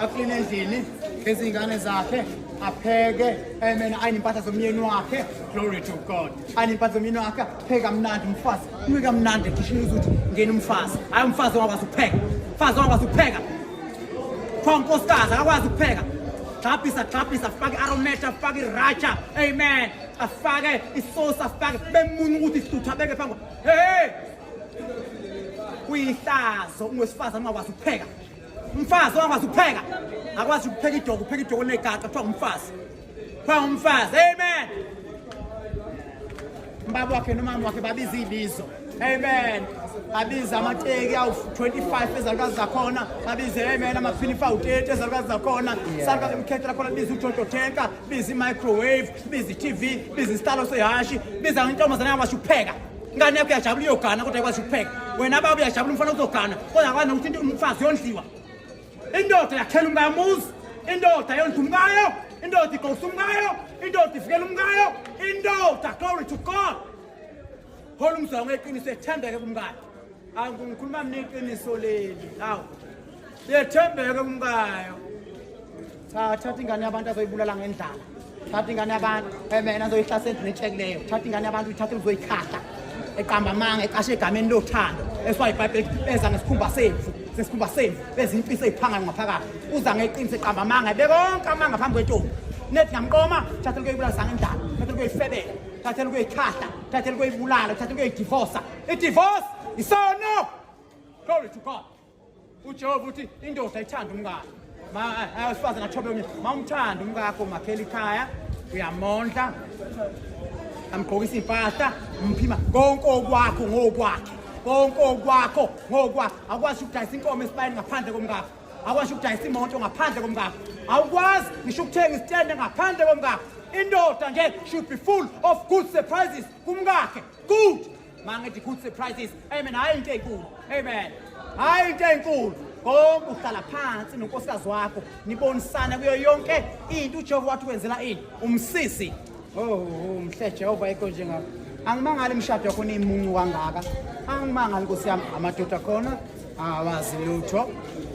akline endlini ngezingane zakhe apheke amen ayine impahla zomyeni wakhe glory to god ayine impahla zomyeni wakhe apheke kamnandi umfazi uye kamnandi ekhishini uzuthi ngena umfazi hayi umfazi ongakwazi ukupheka umfazi ongakwazi ukupheka pha unkosikazi akakwazi ukupheka gxabhisa gxabhisa afake arometa afake iraja amen afake isosi afake bemuna ukuthi isituthu abeke phambi hey kuyihlazo ungwesifazane ungakwazi ukupheka umfazi ongakwazi ukupheka akwazi ukupheka idogo upheka idogo linegaqa kuthiwa ngumfazi kuthiwa ngumfazi amen ubaba wakhe nomama wakhe babiza ibizo amen babiza amateki awu-25 ezalukazi zakhona babize amen amaphinifu awu-30 ezalukazi zakhona salukazi emkhethe lakhona biza ujodotenka biza i-microwave biza i-tv biza isitalo sehashi biza intombazana yakwazi ukupheka Ngane yakho yajabula iyogana kodwa ikwazi ukupheka. Wena baba uyajabula umfana uzogana kodwa akwazi nokuthi into umfazi yondliwa. Indoda yakhela umkamuzi, indoda yondla umkayo, indoda igosa umkayo, indoda ivikela umkayo, indoda glory to God. Hola umzwa ngeqiniso ethembeke kumkayo. angikhuluma mina iqiniso leli awu bethembeke kumkayo cha thatha ingane yabantu azoyibulala ngendlala thatha ingane yabantu emena azoyihlasela endlini etshekileyo thatha ingane yabantu uyithathe uzoyikhahla eqamba amanga ecashe egameni lothando eswaye ibhayibheli beza ngesikhumba semvu sesikhumba semvu beza imfisa eyiphanga ngaphakathi uza ngeqiniso eqamba amanga ebe konke amanga phambi kwentombi nethi ngamqoma thatha lukuyoyibulala sangendlala thatha lukuyoyifebela thatha lukuyoyikhahla thatha lukuyoyibulala thatha lukuyoyidivosa idivorce isono glory to god ujehova uthi indoda ithanda umngane awesifazane athobe omnye ma umthanda umkakho makhela ikhaya uyamondla amgqokisa impahla umphima konke okwakho ngokwakhe konke okwakho ngokwakho akwazi ukudayisa inkomo esibayeni ngaphandle komkakho akwazi ukudayisa imoto ngaphandle komkakho awukwazi ngisho ukuthenga isitende ngaphandle komkakho indoda nje should be full of good surprises kumkakhe good mangithi good surprises amen hayi into enkulu amen hayi into enkulu konke uhlala phansi nonkosikazi wakho nibonisane kuyo yonke into ujehova wathi wenzela ini umsisi oh, oh, oh mhle jehova ikho njengako angimangali imishado yakho niyimuncu kangaka angimangali nkosi yami amadoda khona awazi lutho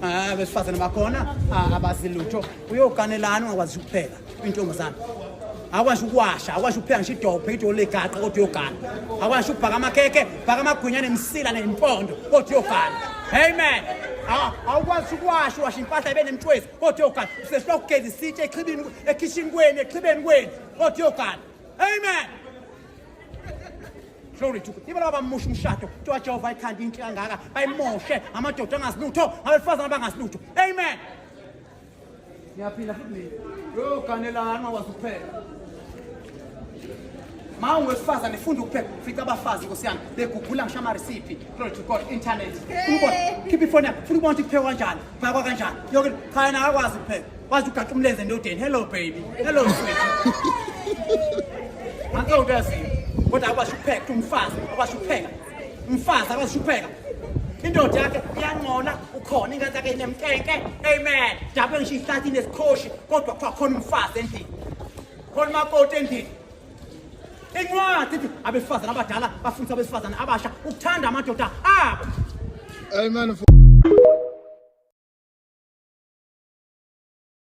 abesifazane bakhona abazi lutho uyoganelani ungakwazi ukupheka intombazana akwazi ukuwasha akwazi ukupheka ngisho idophe ido legaqa kodwa uyogana akwazi ukubhaka amakhekhe bhaka amagwinya nemsila nempondo kodwa uyogana amen ah, awukwazi ukuwasha uwasha impahla ibe nemtshwezi kodwa uyogana usesifuna ukugeza isitshe exhibini ekhishini kwenu exhibeni kwenu kodwa uyogana amen glory to ibe laba bamusha umshado kuthiwa wajehova ayithanda inhle kangaka bayimoshe amadoda angasilutho abesifazane abangasilutho amen ngiyaphila futhi mina yoganelana ungakwazi ukuphela ma ungowesifazane funda ukuphepha fica abafazi nkosi yami begugula ngisho amaresiphi glory to god internet ubona khipha ifoni yakho funa ubona ukuthi kuphekwa kanjani phakwa kanjani yoke cha yena akakwazi ukuphepha wazi ugaqa umlenze endodeni hello baby hello sweet ngakho uyaziyo kodwa akwazi ukupheka umfazi akwazi ukupheka mfazi akazishupheka indoda yakhe iyangcola ukhona ingane yakhe inemnkenke amen dabe ngisho ihlathi nesikhoshi kodwa kuthiwa khona umfazi endlini khona umakoti endlini incwadi ithi abesifazane abadala bafundisa abesifazane abasha ukuthanda amadoda abo amen